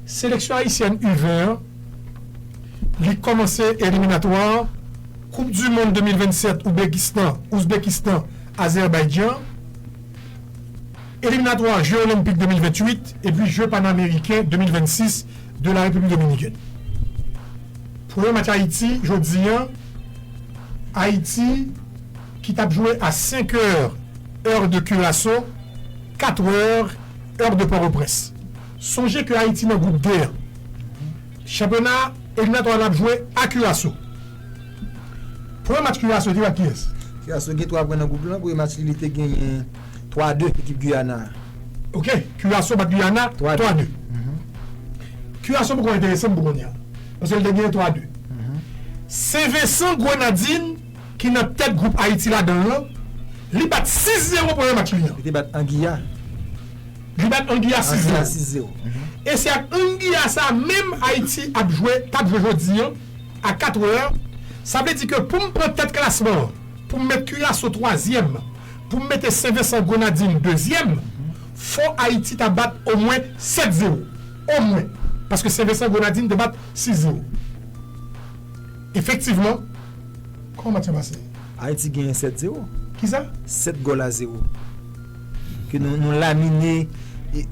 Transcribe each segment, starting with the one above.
seleksyon ayisyèn U 20 an li kòmanse eliminatwa koup du mond 2027 Oubekistan, Uzbekistan, Azerbaidjan, eliminatwa je olenpik 2028 epi je panameriken 2026 de la Repiblik Dominikèn. Premye match Ayiti jodi an, Ayiti ki tap jwe a 5 è, èr de Kiraso, 4 è. Heure de Port-au-Prince. Sonje ke Ayiti nan group D an. Chanpyona eliminatwa lap jwe a Curaçao. Premye match Curaçao te jwe ak kiyès? Curaçao gen 3 pwen nan group lan. Premye match li, li te genyen 3 a 2 ekip Guyana a. Ok, Curaçao bat Guyana 3 a 2. Curaçao poko enterese'm pou kounya. Paske li te genyen 3 a 2. Sen Vensan Grenadin. ki nan tèt gwoup Ayiti ladan l lan, li bat 6 zewo premye match li an. Li te bat Anguilla. Li bat Anguilla 6 zewo. Anguilla 6 zewo. E se ak Anguilla sa a menm Ayiti ap jwe, t ap jwe jodi an a 4 è. Sa vle di ke pou m pran tèt klasman an, pou m met Curaçao twazyèm, pou m mete Sen Vensan Grenadin dezyèm, fò Ayiti ta bat omwen 7 zewo. Omwen. Paske Sen Vensan Grenadin te bat 6 zewo. Efektivman, kòman match lan pase? Ayiti genyen 7 zero. Kisa? 7 gòl a zero ke nou nou lamine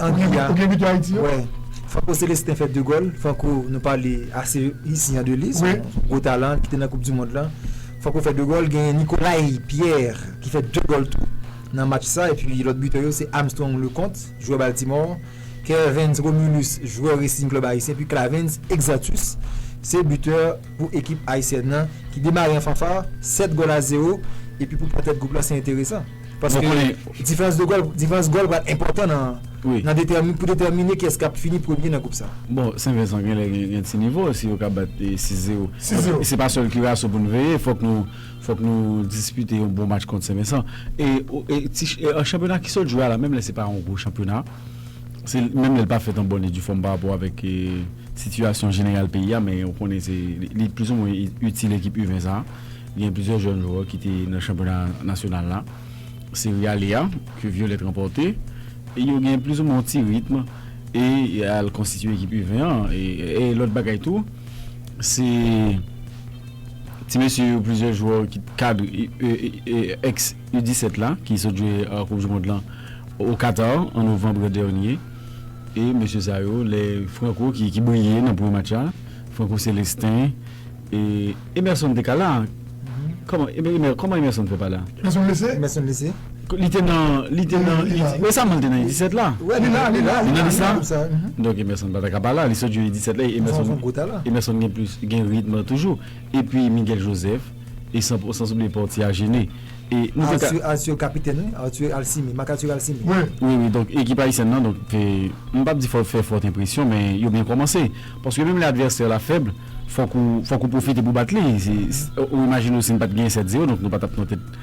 Anguilla. Ou gen ou gen bitò Ayiti yo? Wè. Franco Celestin fè 2 gòl. Franco nou pale ase isian de li. Wi. Son gwo talan ki te nan koup di mond lan. Franco fè 2 gòl. Genyen Nicolay Pierre ki fè 2 gòl tou nan match sa epi lòt bitè yo se Armstrong Leconte. Jwè Baltimore, Kervens Romulus jwè Racing Club Haïtien epi Clavens Exatus se bitè pou ekip Ayisyèn nan ki demare an fanfar 7 gòl a 0 epi pou pwatèt gwoup lan se enteresan paske diferans de gòl diferans gòl pral enpòtan nan detèmine pou detèmine kiyès kap fini premye nan gwoup sa. Bon Sen Vensan genlè gen ti nivo si yo ka bat 6 0 se pa sèl Kiraso pou n veye fòk nou Fòk nou dispite yon bon match kont Senvensan. E chanpyona ki sot jwe a la, menm lè se pa yon gwo chanpyona, menm lè l pa fèt an bòn e di fòm parapò avèk sitiyasyon jeneral peyi a, men ou konnen se li plizoumwen itil ekip U20 sa a. Gen plizyè jèn jwè ki te nan chanpyona nasyonal la. Seri ale a, ke Vyolèt ranpòte, yo gen plizoumwen yon ti ritm e y al konstitye ekip U20 an. E lòt bagay tou, se. Ti mesye yo plizyè jwè ki t kad ex U 17 la ki sot jwe koup du mond lan o Qatar an novanbre dènye e mesye sa yo lè Franco ki ki briye nan premye match la Franco Celestin e Emerson te ka la kòman Emerson fè pa la. Emerson blese. Li te nan, li te nan, li te, resaman li te nan U17 la. Wè li la, li la, li la, li la, konsa. Donk Emerson pa ta ka pa la, li sot jwe U17 la, Emerson, son gwo talan. Emerson gen plis, gen ritm lan toujou. Epi Miguel Joseph, e san, san soubliye Portier a Gene. E nou te ka. Arthur, Arthur kapitèn wi, Arthur Alcimé, Marc Arthur Alcimé. Wi. Wi, wi, donk ekip ayisyèn lan, donk te, m pap di fò fè fòt enpresyon, men yo byen kòmanse. Paske menm lè advèsè la fèb, fòk ou, fòk ou pwofite pou w bat li. Se, ou imajine w si n pat genyen 7-0, donk nou pa tap nan tèt.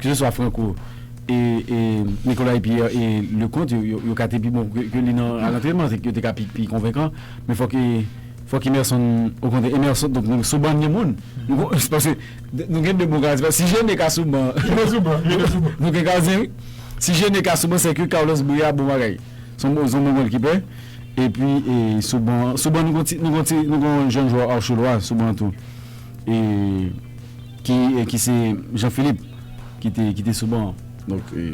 Ke se swa Franco e Nicolai Pierre e Leconte yo ka te pi bon ke li nan al antrenman. Se yo te ka pi konvenkan. Men fòk fòk Emerson okontrè Emerson donk nou sou ban n gen moun. Se paske nou gen 2 bon gadyen. Se paske si Gene ka sou ban nou gen gadyen wi. Si Gene ka sou ban se ke Carlos Brea bon bagay. Se yon bon gòlkipè. E pi sou ban an sou ban nou gen yon ti nou gen yon jèn jwè Archelois sou ban an tou. E. Ki ki se Jean Philippe ki te ki te sou ban an. Donk e.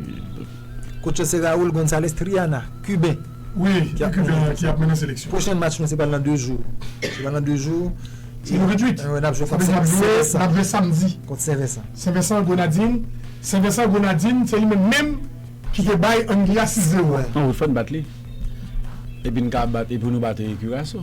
Coach yo se Raul Gonzalez Triana, Kiben. Wi, yon Kiben ki ap mennen seleksyon. Pwochen match nou se pral nan 2 jou. Se pral nan 2 jou. Se le 28. Wi, n ap jwe kont Sen Vensan. Sa vle di n ap jwe, n ap jwe samdi. Kont Sen Vensan. Sen Vensan Grenadin. Sen Vensan Grenadin se li menm menm ki te bay Anglia 6 zewo a. An wi, fò n bat li. Epi n ka bat epi nou bat Kiraso.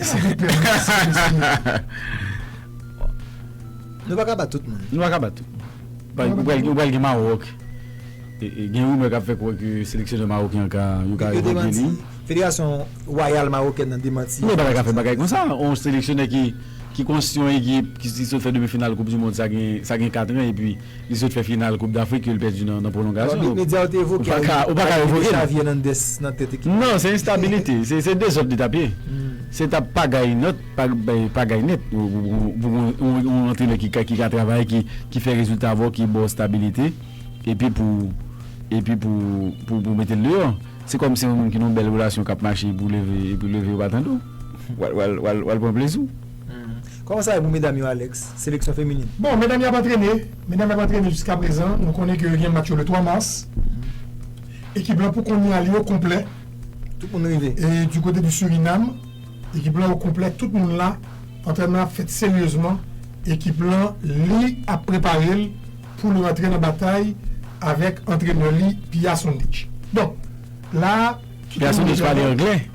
Silvouplè merci mesye. Nou paka bat tout moun. Nou paka bat tout moun. Ou pral gen Maroc. Gen rumeur kap fè kwè ke seleksyonè Maroc yan ka yo ka evoke li. Federasyon wayal Marokèn nan demanti. Yo paka fè bagay konsa. Yon seleksyonè ki konsyon ekip ki sot fè demi final koup du mond sa gen katran epi. Li sot fè final koup dAfrik ke li pèdi nan pwolongasyon. Bon, medya yo te evoke a wi, arive Xavi Hernandez nan tèt ekip la. Non, se enstabilite, se dezòd li tap ye. Se tap pagay nòt, pagay nèt pou yon antrenè ki ka travay, ki fè rezilta avè'w, ki bò'w stabilite epi pou, epi pou, pou mete'l deyò. Se kòm se yon moun ki nan yon bèl relasyon kap mache pou leve, epi leve yo pa tande'w. Wal, wal, wal pran plezi'w. Kòman sa ye pou medam yo Alex, seleksyon feminin? Bon, medam yo ap antrene, medam yo ap antrene jiska prezan, nou konnen ke yo gen match yo le 3 mars, ekip lan pou kounye a li o konplè, Tout moun rive. e di kote di Surinam, ekip lan o konplè, tout moun la, antrènman an ap fèt seryezman, ekip lan li ap prepare l pou l rantre nan batay avèk antrenè li Pia Sundich. Donk, la a, tout Pia moun Sundich deja pale wè. anglè.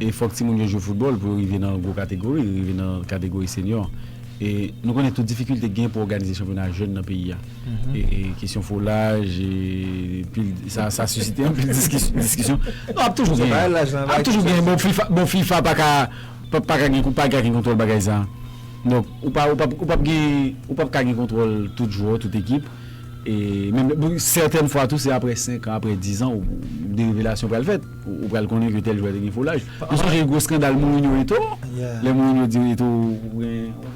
E fòk timoun yo jwe foutbòl pou yo rive nan gwo kategori, rive nan kategori senyò. E nou konnen tout difikilte ki genyen pou òganize chanpyona jèn nan peyi a. E kesyon foulaj, e pil, sa, sa sisite anpil diskisyon. Non, ap toujou genyen. Se pa laj nan, laj. Ap toujou genyen. Bon, fifa, bon, fifa pa ka, pa, pa ka gen, pa ka gen kontwòl bagay sa a. Donk, ou pa, ou pa, ou pap gen, ou pap ka gen kontwòl tout jwè, tout ekip. E menm, bon, sètèn fwa tou se aprè senkan, aprè dizan ou, de revelasyon pral fèt. Ou pral konnen ke tèl jwè te gen foulaj. Mwen sonje gwo skandal Mourinho Eto'o, lè Mourinho di Eto'o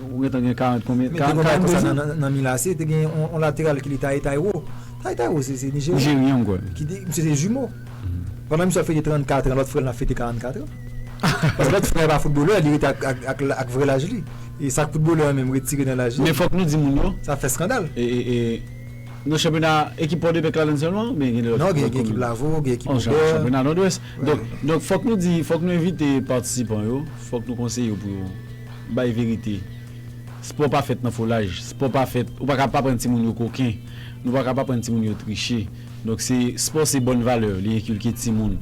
ou gentan gen 40 konbyen, 42 zan. Men te gen yon bagay konsa nan Milan AC, te gen yon lateral ki rele Taye Tairo. Taye Tairo se Nijeryen. Nijeryen m kwè. Ki te, misye se jimo. Pandan misye ap fete 34 an, lòt frè l nan ap fete 44 an. Paske lòt frè a pa foutbolè, li rete ak vrè laj li. E sa k foutbolè an menm retire nan laj li. Men fòk nou di moun yo. Sa fè skandal. E, e, e. Nan chanpyona ekip Pòdepè Klalen sèlman oubyen gen lòt komin? Non gen ekip Lavo, gen ekip Obè. An chanpyona Nòdwès. Donk donk fòk nou di, fòk nou envite patisipan yo, fòk nou konseye yo pou yo bay verite. Spò pa fèt nan folaj, spò pa fèt, ou pa ka pa aprann timoun yo koken, nou pa ka pa aprann timoun yo triche. Donk se spò se bòn valè, li enkilke timoun.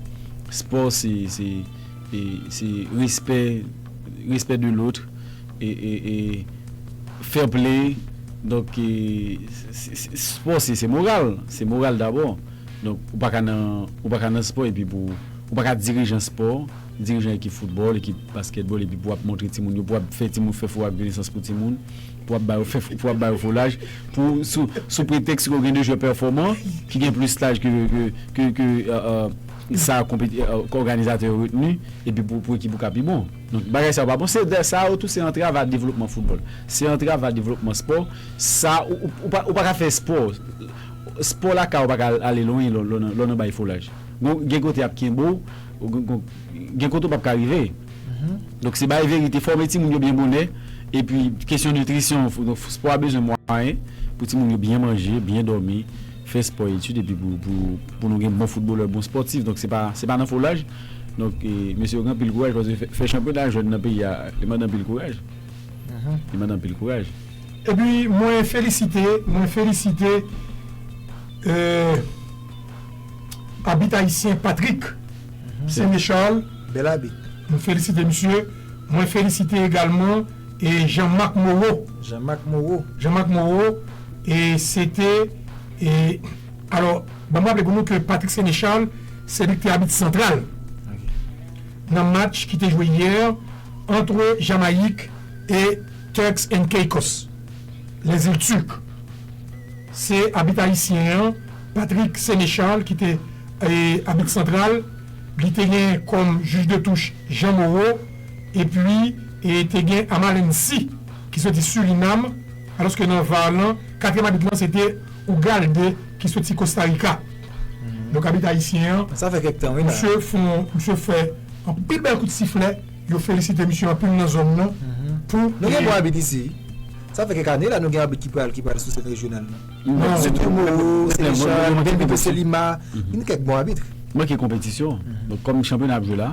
Spò se se se respè, respè de lotre. Fair play donk spò se moral se moral dabò donk ou paka nan ou paka nan spò epi pou ou paka dirijan spò dirijan ekip foutbòl ekip baskètbòl epi pou wap montre timoun yo pou wap fè timoun fè fo ak renesans pou timoun pou wap ba yo fè pou wap ba yo foulaj pou sou sou pretèks ke ou gen de jwè pèfòman ki gen plis laj ke ke ke sa konpe òganizatè yo retni epi pou ekip ou ka pi bon. Donk bagay sa yo pa bon. Se dè sa yo tou se antrav a devlopman foutbòl. Se antrav a devlopman spò. Sa ou pa ka fè spò. Spò lakay ou pa ka ale lwen lè w nan bay foulaj. Gen kote y ap kenbe w. Gen kote ou p ap ka rive. Donk se bay verite. Fòme timoun yo byen bonè. Epi kesyon nitrisyon. Spò a bezwen mwayen pou timoun yo byen manje, byen dòmi. fè spò etid epi pou nou gen bon foutbolè bon spòtif donk se pa nan fo laj donk mesye yo gen anpil kouraj paske fè chanpyona jèn nan peyi a li mande anpil kouraj li mande anpil kouraj. Epi mwen felisite mwen felisite abit ayisyen Patrick Séné Charles m felisite misye mwen felisite egalman e Jean Marc Moreau. Jean Marc Moreau. Jean Marc Moreau e se te e alò banm raple pou nou ke Patrick Sénéchal se li ki te abit santral nan match ki te jwe yè antre Jamayik e Turks and Caicos les îles Turques se abit ayisyen an Patrick Sénéchal ki te e abit santral li te gen kòm jij de touch Jean Moreau. Epi, te gen Amalensi, ki soti Surinam, alòske nan var lan, katriyèm abit lan se te Ugalde ki soti Kostarika. Donk abit ayisyen an, misye fon, misye fè anpil bèl kout siflè, yo felisite misye anpil nan zòn lan pou. Nou gen bon abit isi. Sa fè kèk ane la nou gen abit ki pral ki pral sou sèn rejyonal lan. Se Tomoro, se Richard, Benito Celima, gen kèk bon abit. Manke konpetisyon. Donk kòm chanpyona ap jwe la.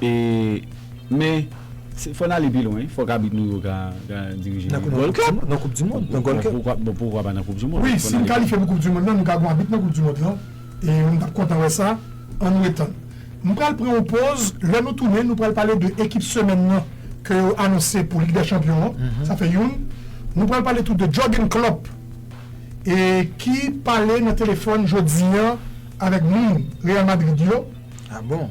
E men se fò n ale pi lwen, fòk abit nou yo ka dirije Nan Gold Cup. Nan koup dimond, nan Gold Cup. Bon poukwa pa nan koup dimond? Wi, si n kalifye pou koup dimond lan, nou ka gon abit nan koup dimond lan e m t ap kontan wè sa. An nou etann. M pral pran yon poz, lè nou tounen nou pral pale de ekip semèn nan ke yo anonse pou Lig dè Chanpyon an, sa fè youn. Nou pral pale tou de Jurgen Klopp e ki pale nan telefòn jodi an avèk moun Real Madrid yo. A bon?